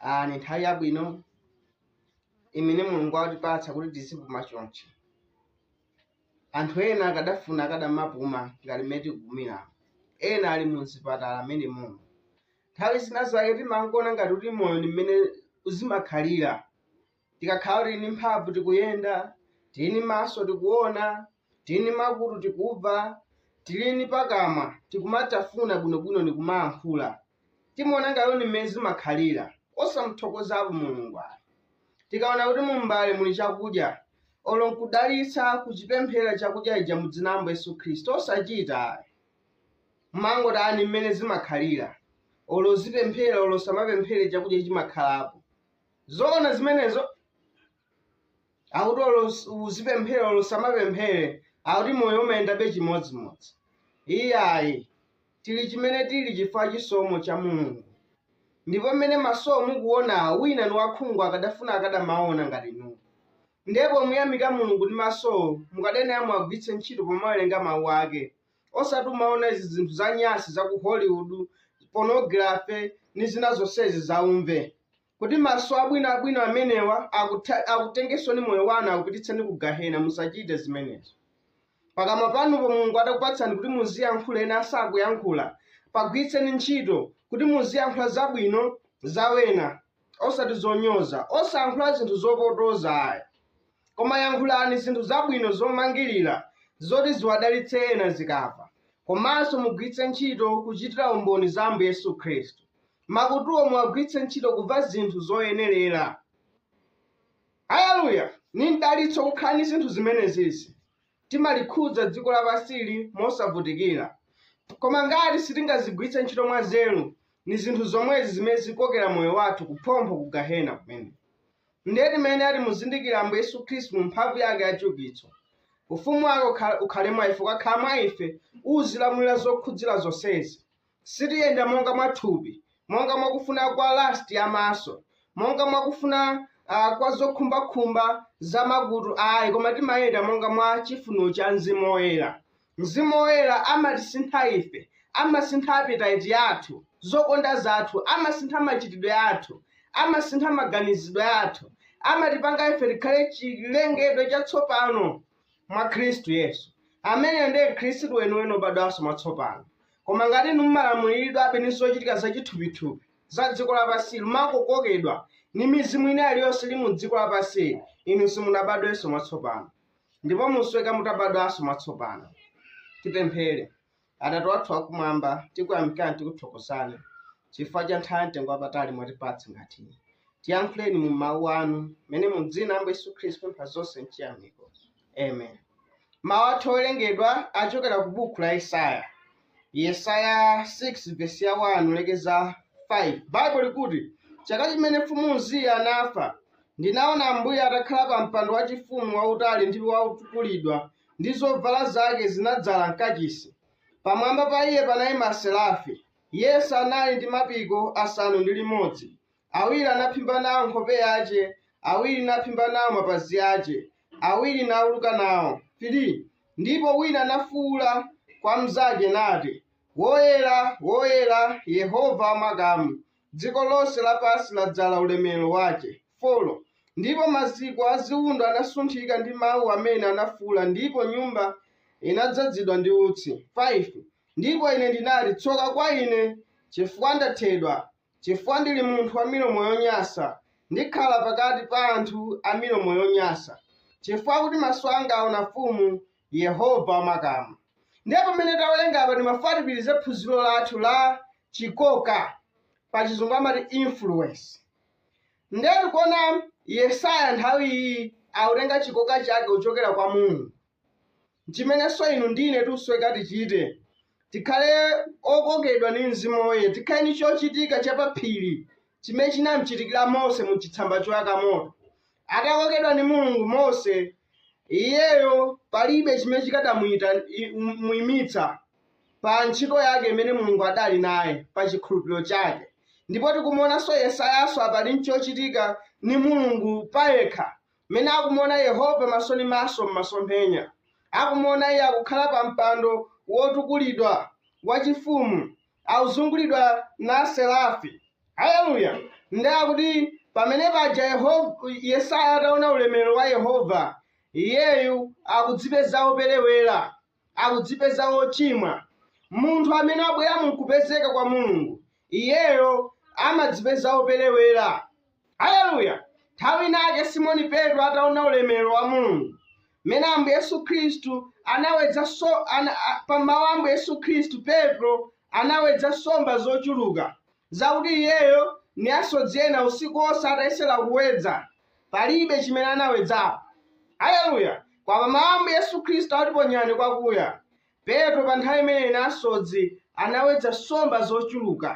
Ah, ni nthawi yabwino imene mulungu watipatsa kuti tizipuma chonchi anthu ena akadafuna akadamapuma ngati mmene tikupumira ena ali mu mzipatala mmenemuno nthawi zina zake timangoona ngati kuti moyo ni mmene umakhalira tikakhala tili ndi mphamvu tikuyenda tili ndi maso tikuona tili ndi makutu tikumva tili ndi pakamwa tikumatafuna bwinobwino ndi kumayankhula timaona ngati ndi mmene zimakhalira osamthokozapo mulungu ayi tikaona kuti mumbale muli chakudya olo nkudalitsa kuchipempherera chakudya chija mu dzina la Ambuye yesu khristu osachita ayi mmangoti ni mmene zimakhalira olo uzipemphera olo usamapemphere chakudya chimakhalapo zoona zimenezo akuti olo us- uzipemphera olo usamapemphere akuti moyo umayendabe chimodzimodzi iyayi tili chimene tili chifukwa chisomo cha mulungu ndipo mmene masowo mukuona wina ni wakhungu akadafuna akadamaona ngati inu ndipo muyamika mulungu ndi masowo mukayenera muwagwiritse ntchito pomawerenga mawu ake osati kumaona izi zinthu za nyasi za ku hollywood pornography ni zina zonsezi zaumve kuti maso abwino abwino amenewa akutha- akutengetsoni moyo wanu akupititseni ku gahena musachite zimenezo pakamwa panupo mulungu adakupatsani kuti muziyankhula ena sakuyankhula pagwiritseni ntchito kuti muziyankhula zabwino za wena osati zonyoza osayankhula zinthu zopotoza ayi Koma yankhulani zinthu zabwino zomangirira zoti ziwadalitse ena akamva. Komanso mugwiritse ntchito kuchitira umboni za Ambuye Yesu Khristu. Makutuwo muwagwiritse ntchito kumva zinthu zoyenerera. Aleluya! Ni mdalitso kukhala ndi zinthu zimenezizi. Timalikhudza dziko lapansili mosavutikira. Koma ngati sitingazigwiritse ntchito mwanzeru, ni zinthu zomwezi zimene zikokera moyo wathu kuphompho ku Gahena kumene. Ndiye timayenera timuzindikire Ambuye Yesu Khristu mu mphamvu yake ya chiukitso. Ufumu wake ukha- ukhale mwa ife, ukakhala mwa ife, uzilamulira zokhudzira zonsezi. Sitiyenda monga mwa thupi, monga mwa kufuna kwa lust ya maso, monga mwa kufuna ah, kwa zokhumbakhumba za makutu ayi, koma timayenda monga mwa chifuniro cha Mzimu Woyera. Mzimu Woyera amatisintha ife, amasintha appetite yathu, zokonda zathu, amasintha machitidwe athu, amasintha maganizidwe athu, amatipanga ife tikhale chilengedwe chatsopano mwa Khristu Yesu. Ameneyo ndiye Mkhristu weniweni wobadwanso mwatsopano. Koma ngati inu mumalamuliridwabe ndi zochitika za chithupithupi za dziko lapansi, mumakokokedwa ndi mizimu ina iliyonse ili mu dziko lapansili, inu simunabadwenso mwatsopano. ndipo musweka mutabadwanso mwatsopano tipemphere atate wathu wakumwamba tikuyamikani tikuthokozani chifukwa cha nthawi mtengo wapatali mwatipatsa ngati iyi tiyankhuleni mu mawu anu mmene mu dzina la ambuye yesu khristu pempha zonse mchiyamiko amen mawu athu owerengedwa achokera ku buku la yesaya yesaya 6 vesi ya 1 lekeza 5 baibulo likuti chaka chimene mfumu uziya anafa Ndinaona Ambuye atakhala pa mpando wachifumu wautali ndi wotukulidwa, ndi zovala zake zinadzala m'kachisi. Pamwamba pa iye panayima aserafi. Yense anali ndi mapiko asanu ndi limodzi. Awiri anaphimba nawo nkhope yace, awiri naphimba nawo mapazi ace, awiri nauluka nawo, 3 ndipo wina anafuula kwa mnzake nati, Woyera, woyera, Yehova wa makamu, Dziko lonse lapansi ladzala ulemerero wace. 4 ndipo maziko a ziundo anasunthika ndi mau amene anafuula, ndipo nyumba inadzadzidwa ndi utsi. 5 ndipo ine ndinati, Tsoka kwa ine! cifukwa ndathedwa, cifukwa ndiri munthu wa milomo yonyansa, ndikhala pakati pa anthu a milomo yonyansa, cifukwa kuti maso anga aona Mfumu, yehova wamakamu ndiye pamene tawerenga apa timafuna tipitirize phunziro lathu la chikoka pa chizungu amati influence ndiye tikuona yesaya nthawi iyi akutenga chikoka chake kuchokera kwa mulungu chimenenso inu ndine tikusoweka tichite tikhale okokedwa ndi mzimu woyera tikhale ndi chochitika chapaphiri chimene chinamchitikira mose mu chitsamba choyaka moto atakokedwa ndi mulungu mose iyeyo palibe chimene chikadamuyimitsa pa ntchito yake imene mulungu adali naye pa chikhulupiriro chake ndipo tikumuonanso yesayanso apali nchochitika ni mulungu payekha mmene akumuona yehova maso ni maso m'masomphenya akumuona iye akukhala pa mpando wotukulidwa wachifumu akuzungulidwa na aserafi haleluya ndiye akuti pamene paja Yehova- yesaya ataona ulemerero wa yehova iyeyu akudzipeza woperewera akudzipeza wochimwa munthu amene wabwera mukupezeka kwa mulungu iyeyo amadzipeza woperewera Aleluya! Nthawi inayake Simoni Petro ataona ulemerero wa Mulungu, mmene Ambuye Yesu Khristu anawedza so, ana, a, pa mawu a Ambuye Yesu Khristu, Petro anawedza nsomba zochuluka zakuti iyeyo ndi asodzi ena usiku wonse atayesera kuwedza, palibe chimene anawedzapo. Aleluya! Koma pa mawu a Ambuye Yesu Khristu ati ponyani kwakuya. Petro pa nthawi imeneyi ni asodzi anawedza nsomba zoculuka.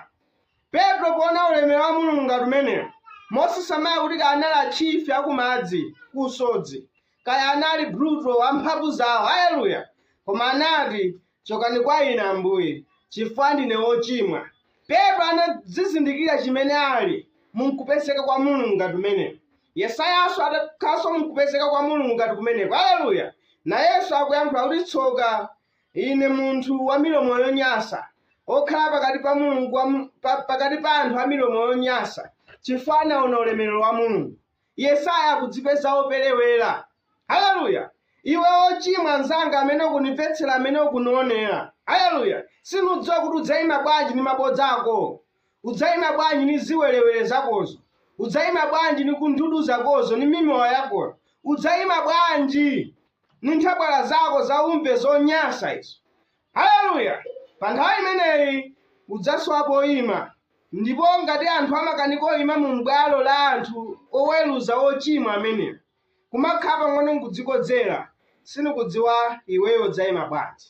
Petro poona ulemelelo wa Mulungu ngati umenewo, mosasamala kuti kaya anali achifi a kumadzi, ku usodzi, kaya anali brutal, a mphamvu zawo, haleluya, koma anati, Cokani kwa ine Ambuye, cifukwa ndine wocimwa. Petro anadzizindikira chimene ali mu nkupezeka kwa Mulungu ngati kumeneko. Yesayanso adakhalanso mu nkupezeka kwa Mulungu ngati kumeneko. Aleluya! Nayenso akuyankhula kuti, Tsoka ine, munthu wa milomo yonyansa, wokhala pakati pa Mulungu wa, pa, pakati pa anthu a milomo yonyansa, chifukwa anawona ulemerero wa Mulungu. Yesaya akudzipeza woperewera. Haleluya! Iwe wochimwa mnzanga amene ukunimvetsera, amene ukunionera. Haleluya! Sinidziwa kuti udzaima bwanji ni mabodza akowo. Udzaima bwanji ni ziwerewere zakozo. Udzaima bwanji ni kundudu zakozo, ni mimowa yakoyo. Udzaima bwanji ni nthabwala zako zaumve zonyansa izo. Haleluya! Pa nthawi imeneyi udzasowa poima, ndipo ngati anthu amakanika oima mu m'bwalo la anthu oweruza ochimwa amenewo, kumakhala pang'ono nkudzikodzera, sinikudziwa iweyo udzaima bwanji,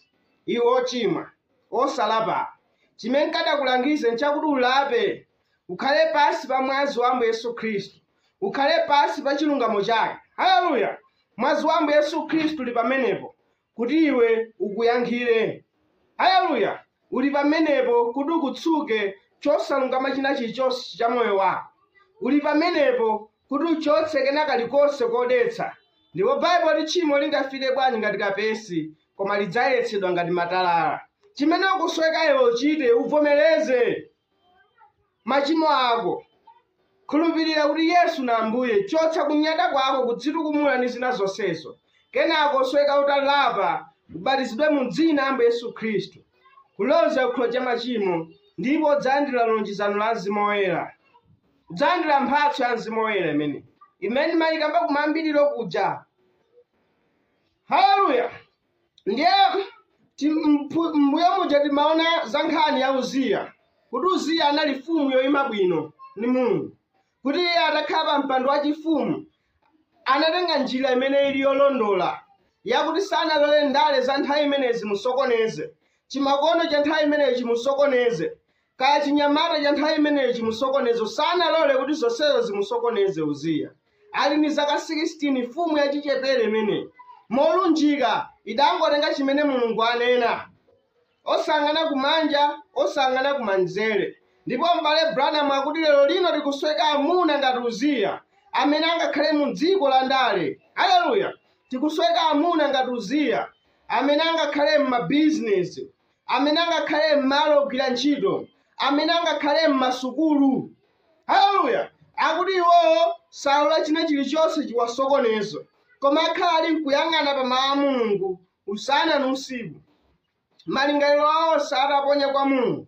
iwe wochimwa, wosalapawe. Chimene nkadakulangiza nchakuti ulape, ukhale pansi pa Mwazi wa Ambuye Yesu Khristu, ukhale pansi pa chilungamo Chake. Haleluya! Mwazi wa Ambuye Yesu Khristu uli pamenepo, kuti iwe ukuyankhire. Aleluya! Uli pamenepo kuti ukutsuke chosalungama china chilichonse cha moyo wako. Uli pamenepo kuti uchotse kena kalikonse kodetsa. Ndipo Baibulo liti tchimo lingafiire bwanji ngati kapezi, koma lidzayeretsedwa ngati matalala. Chimene ukusoweka iwe uchite, uvomereze. machimo ako. Khulupirira kuti Yesu ni Ambuye, chotsa kunyada kwako, kudzitukumula ni zina zonsezo. Kenako usoweka utalapa, ubatizidwe mu dzina la Ambuye Yesu Khristu, kuloza ku chikhululukiro cha machimo, ndipo udzalandira lonjezano la Mzimu Woyera. Udzalandira mphatso ya Mzimu Woyera imene imene nimayikamba kumayambiriro kuja. Haleluya! ndiye ti- mpu- mbuyo muja timaona za nkhani ya uziya kuti uziya anali mfumu yoima bwino ndi mulungu kuti iye atakhala pa mpando wachifumu anatenga njira imene ili yolondola yakuti sanalole ndale za nthawi imeneyi zimusokoneze chimakono cha nthawi imeneyi chimusokoneze Kaya chinyamata cha nthawi imeneyi chimusokoneze sanalole kuti zonsezo zimusokoneze Uziya. Ali ni zaka 16 mfumu yachichepere imeneyi molunjika idangotenga chimene Mulungu anena osang'ana kumanja osang'ana kumanzere ndipo m'bale Branham akuti lero lino tikusoweka amuna ngati Uziya amene angakhale mu dziko la ndale haleluya tikusoweka amuna ngati Uziya amene angakhale m'mabizinesi amene angakhale m'malo ogwira ntchito amene angakhale m'masukulu haleluya akuti iwowo salola china chilichonse chiwasokoneze koma akhala ali nkuyang'ana pa mawu a mulungu usana ndi usiku malingaliro awo onse ataponya kwa mulungu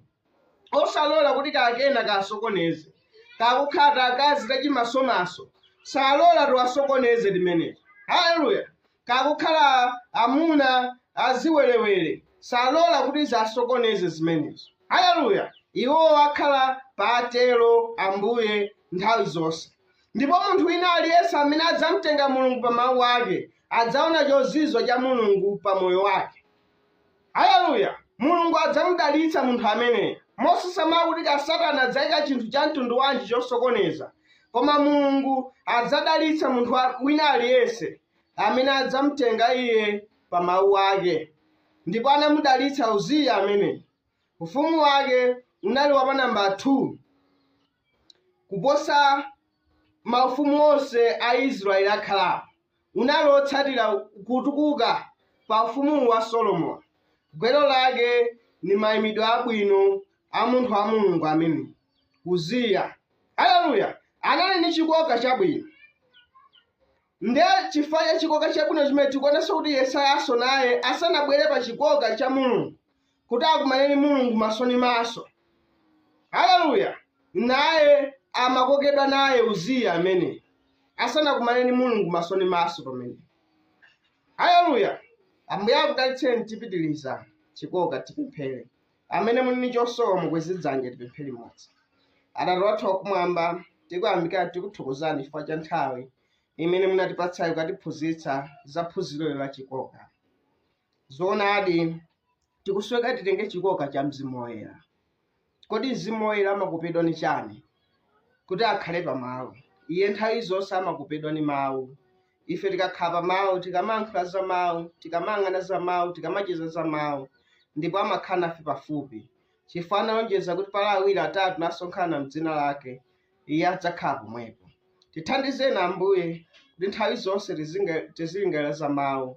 osalola kuti kakena kasokoneze kakukhala takazi tachimasomaso salola tiwasokoneze timeneti haleluya kakukhala amuna aziwerewere salola kuti ziwasokoneze zimenezo haleluya iwo akhala pa atero ambuye nthawi zonse ndipo munthu wina aliyense amene adzamtenga mulungu pa mawu ake adzaona chozizwa cha mulungu pa moyo wake Aleluya! Mulungu adzamudalitsa munthu ameneyo, mosasamala kuti ka Satana adzaika chinthu cha mtundu wanji chosokoneza. Koma Mulungu adzadalitsa munthu wa- wina aliyense amene adzamutenga iye pa mawu ake. Ndipo anamudalitsa Uziya ameneyo. Ufumu wake unali wa pa namba 2 kuposa maufumu onse a Israeli akhalapo. unali wotsatira kutukuka pa Ufumu wa Solomoni. Gwero lake ndi maimidwe abwino a munthu wa Mulungu ameneyu, Uziya. Haleluya! Anali ndi chikoka chabwino. Nde chifukwa cha chikoka chabwino chimene tikuonanso kuti Yesayanso naye asanabwere pa chikoka cha Mulungu, kuti akumane ndi mulungu maso ndi maso haleluya naye amakokedwa naye uziya amene asanakumane ndi mulungu maso ndi maso pamene haleluya ambuye akudalitseni tipitiliza chikoka tipemphere amene muli ndi chosowa mukweze dzanja tipemphere limodzi atate wathu wakumwamba tikuyamika tikuthokozani chifukwa cha nthawi imene munatipatsayo kutiphunzitsa za phunziro la chikoka Zoonadi, tikusoweka titenge chikoka cha Mzimu Woyera. Kodi Mzimu Woyera amakopedwa ni chani? Kuti akhale pa mawu. Iye nthawi zonse amakopedwa ni mawu. Ife tikakhala pa mawu, tikamayankhula za mawu, tikamayang'ana za mawu, tikamacheza za mawu, ndipo amakhala nafe pafupi. Chifukwa analonjeza kuti pali awiri atatu nasonkhana m'dzina lake, iye adzakhala pomwepo. Tithandizeni Ambuye kuti nthawi zonse tizinga- tizilingalira za mawu,